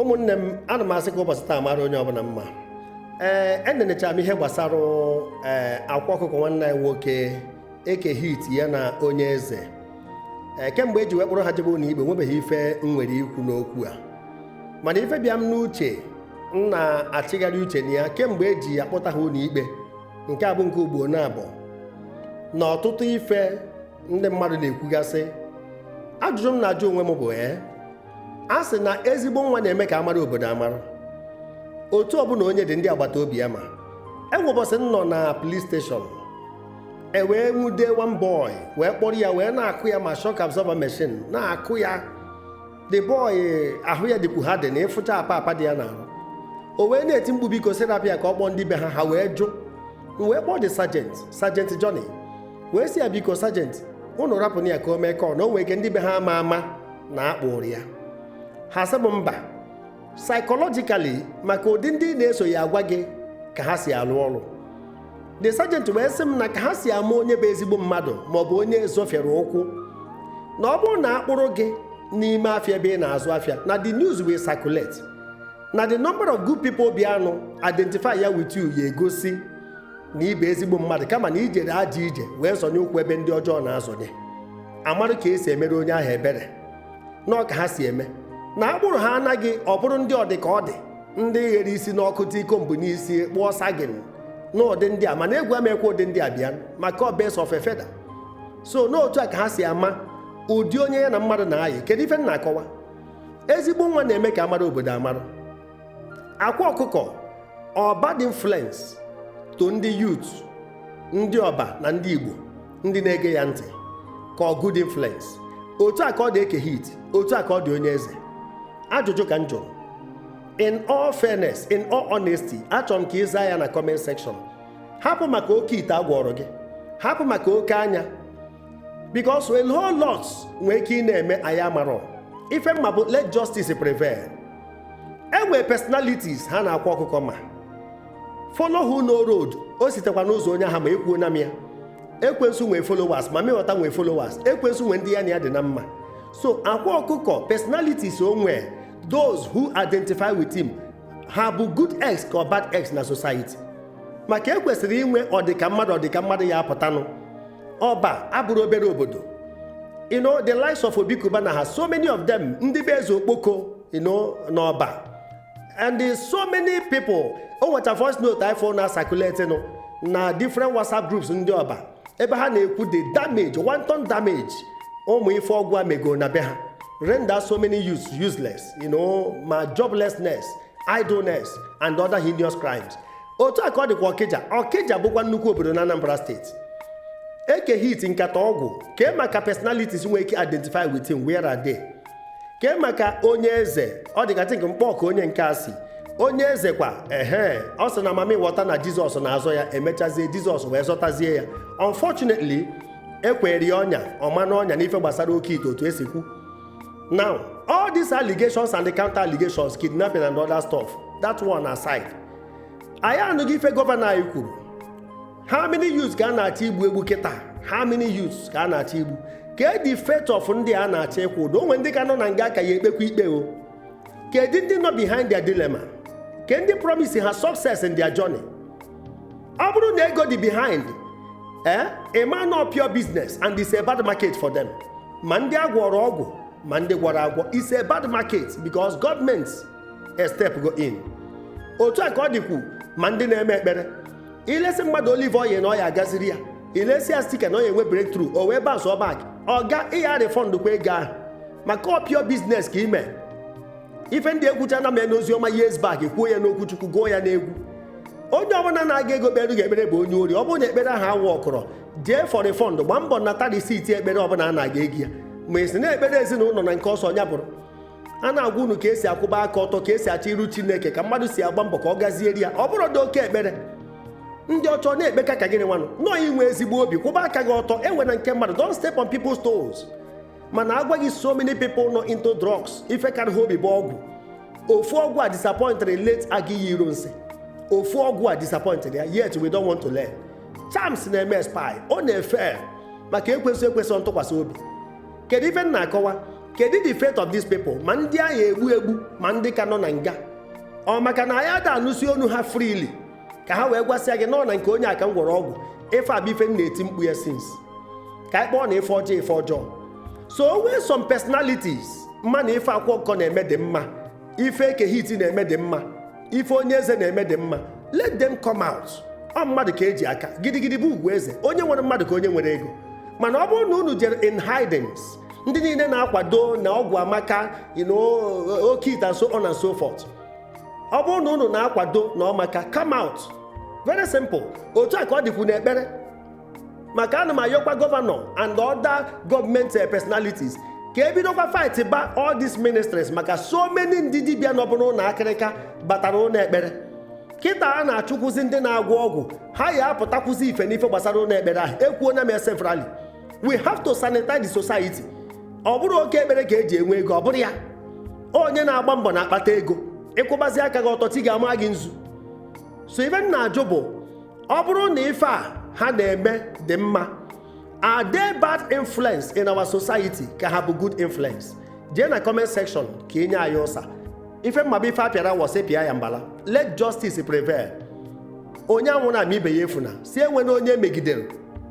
ụmụnne m ana m asị ka ụbọsị taa mara onye ọbụna mma ee enenechara m ihe gbasara ee akwa ọkụkọ nwanne anyị nwoke eke hit ya na onye eze ee kemgbe eji wee kpụrụ ha jebe ụnọ ikpe nwebeghị ife m nwere ikwu n'okwu a mana ife bịa m n'uche m na-achịgharị uche na ya kemgbe eji akpụta ha ụnọ ikpe nke a bụ nke ugbo naabọ na ọtụtụ ife ndị mmadụ na-ekwugasị ajụjụ m na-ajụ onwe m bụ ee a sị na ezigbo nwa na-eme ka amara obodo amarụ otu ọbụna onye dị ndị agbata obi ya ma enwe ụbọsị m nọ na police station e wee nwude one boy wee kpọrọ ya wee na-akụ ya ma shock absorber machine na-akụ ya the boy ahụ ya dịkwu ha dị na ịfụcha apa apa dị ya n'arụ o wee na-eti mkpu biko sir rapụ ya ka ọ kpọọ ndị be ha ha wee jụ m wee kpọọ the sergeant sergeant Johnny wee sị ya biko sergeant ụnụ rapụnụ ya ka o mee call na o nwee ike ndị be ha ama ama na akpụrụ ya ha sị m mba psychologically maka ụdị ndị na-eso ya agwa gị ka ha si alụ ọrụ the sergeant wee sị m na ka ha si ama onye bụ ezigbo mmadụ maọbụ onye zọfere ụkwụ na ọ bụrụ na akpụrụ gị n'ime afịa ebe ị na-azụ afịa na the news will circulate na the number of good people bịanụ identify ya with you ya egosi na ị bụ ezigbo mmadụ kama na i jere ajọ ije wee zọnye ụkwụ ebe ndị ọjọọ na-azọnye amarụ ka esi emere onye ahụ ebere na ọ ka ha si eme na akpụrụ ha anaghị ọ bụrụ ndị ọdị ka ọ dị ndị ghere isi n'ọkụ tii comb n'isi kpụọ sagging na ụdị ndị a mana egwu amekwa ụdị ndị a bịa maka ọ birds of a feather so n'otu a ka ha si ama ụdị onye ya na mmadụ na-ayị kedu ife m na-akọwa ezigbo nwa na-eme ka amara obodo amarụ akwa ọkụkọ ọ bad influence to ndị youth ndị ọba na ndị igbo ndị na-ege ya ntị ka ọ good influence otu a ka ọ dị eke hit otu a ka ọ dị onye eze ajụjụ ka m jụrụ in all fairness in all honesty achọrọ m ka ị zaa ya na comment section hapụ maka oke ite agwọrọ gị hapụ maka oke anya because a whole lot nwee ike ịna-eme anyị amarọ ife m ma bụ let justice prevail e nwere personalities ha na akwa ọkụkọ ma follow who know road o sitekwa n'ụzọ onye ahụ ma ekwuona m ya ekwensu nwee followers mammy water nwee followers ekwensu nwee ndị ya na ya dị na mma so akwa ọkụkọ personalities o nwee those who identify with him ha bụ good eggs ka ọ bad eggs na society maka ekwesịrị inwe ọdịka mmadụ ọdịka mmadụ ya apụtanụ ọba abụrụ obere obodo you know the likes of Obi Cubana ha so many of them ndị be eze okpoko you know n'ọba and there's so many people o nwecha voice note anyị fụrụ na-acirculate nụ na different whatsapp groups ndị ọba ebe ha na-ekwu the damage wanton damage ụmụ ife ọgwụ a mego na be ha render so many youths useless you know ma joblessness idleness and other heinous crimes otu a ka ọ dịkwa ọkịja ọkịja bụkwa nnukwu obodo na anambra steeti eke hit nkata ọgwụ kee maka personalities nwee ike identify with him where are they kee maka onye eze ọ dị ka i think nkpọ ka onye nke a si onye eze kwa ehe ọ sị na mamịwọta na jizọs na-azọ ya emechazie jizọs wee zọtazie ya unfortunately e kwere ya ọnya ọ ma n'ọnya n'ife gbasara oke ite otu e si kwu now all these allegations and the counter allegations kidnapping and other stuff that one aside anyị anụghị ife gọvanọ anyị kwuru how many youths ka a na-achọ igbu egbu kịta how many youths ka a na-achọ igbu kedụ fate of ndị a na-achọ ịkwụ ụdọ o nwe ndị ka nọ na nga a ka ya-ekpekwa ikpe o kedụ ndị nọ behind their dilemma kee ndị promise ha success in their journey ọ bụrụ na ego dị behind eh ị ma na ọ pure business and it's a bad market for them ma ndị a gwọrọ ọgwụ ma ndị gwọrọ agwọ it's a bad market because government stepụgo in otu a ka ọ dịkwu ma ndị na-eme ekpere ilesi mmadụ olive oil na ọ ya agaziri ya ilesi ya stika na ọ ya enwe breakthrough o wee bounceụọ back ọ kwa ị ya-refund kwa ego ahụ maka ọ pure business ka i me ife ndị ekwuchana m ha n'ozi ọma years back kwuo ya n'okwu chukwu gụọ ya n'egwu onye ọbụla nara gị ego kpere gị ekpere bụ onye ori ọ bụrụ na ekpere ahụ awọkọrọ jee for refund gbaa mbọ nata risiti ekpere ọbụla a nara gị ego ya ma e si na ekpere ezinụlọ na nke ọ sọ ya bụrụ a na-agwa unu ka esi akwụba aka ọtọ ka esi achọ iru chineke ka mmadụ si agba mbọ ka ọ gazieri ya ọ bụrụ dị oke ekpere ndị ọchọ na-ekpeka ka gịnị nwanụ nọọ inwe ezigbo obi kwụba aka gị ọtọ ewena nke mmadụ don't step on people's toes mana agwa gị so many people nọ into drugs ife kara ha obi bụ ọgwụ ofu ọgwụ a disappointịrị late aguiyi ironsi ofu ọgwụ a disappointịrị ya yet we don't want to learn charms na-eme expire ọ na-afail maka ekwesirọ ekwesị ntụkwasị obi kedu ife m na-akọwa kedu the fate of these people ma ndị a ya-egbu egbu ma ndị ka nọ na nga ọ maka na anyị ada anụsi onu ha freely ka ha wee gwasịa gị na ọ na nke onye a ka m gwọrọ ọgwụ ife a bụ ife m na-eti mkpu ya since ka anyị kpọọnụ ife ọjọọ ife ọjọọ so o nwee some personalities ma na ife akwa ọkụkọ na-eme dị mma ife eke hit na-eme dị mma ife onye eze na-eme dị mma let them come out ọ mmadụ ka eji aka gidigidi bụ ugwu eze onye nwere mmadụ ka onye nwere ego mana ọ bụrụ na unu jere in hidings ndị niile na-akwado na ọgwụ amaka oke ite so on and so forth ọ bụrụ na unu na-akwado na ọ amaka come out very simple otu a ka ọ dịkwu n'ekpere maka ana m ayọkwa gọvanọ and other government eh, personalities ka e bidokwa fight ba all these ministries maka so many ndị dibịa nọbu n'ụlọ akịrịka gbatara ụnọ ekpere kịta a na-achụkwụzi ndị na-agwọ ọgwụ ha ya apụtakwụzi ife n'ife gbasara ụnọ ekpere ahụ ekwuona m severally we have to sanitize the society ọ bụrọ oke ekpere ka e ji enwe ego ọ bụrọ ya onye na-agba mbọ na-akpata ego ị kwụbazi aka gị ọtọ chi ga-ama gị nzu so ife m na-ajụ bụ ọ bụrụ na ife a ha na-eme dị mma are they bad influence in our society ka ha bụ good influence jee na comment section ka i nye anyị ụsa ife m ma bụ ife a pịara wọsị pịa ya mbala let justice prevail onye anwụna ma ibe ya efuna sị enwena onye megidere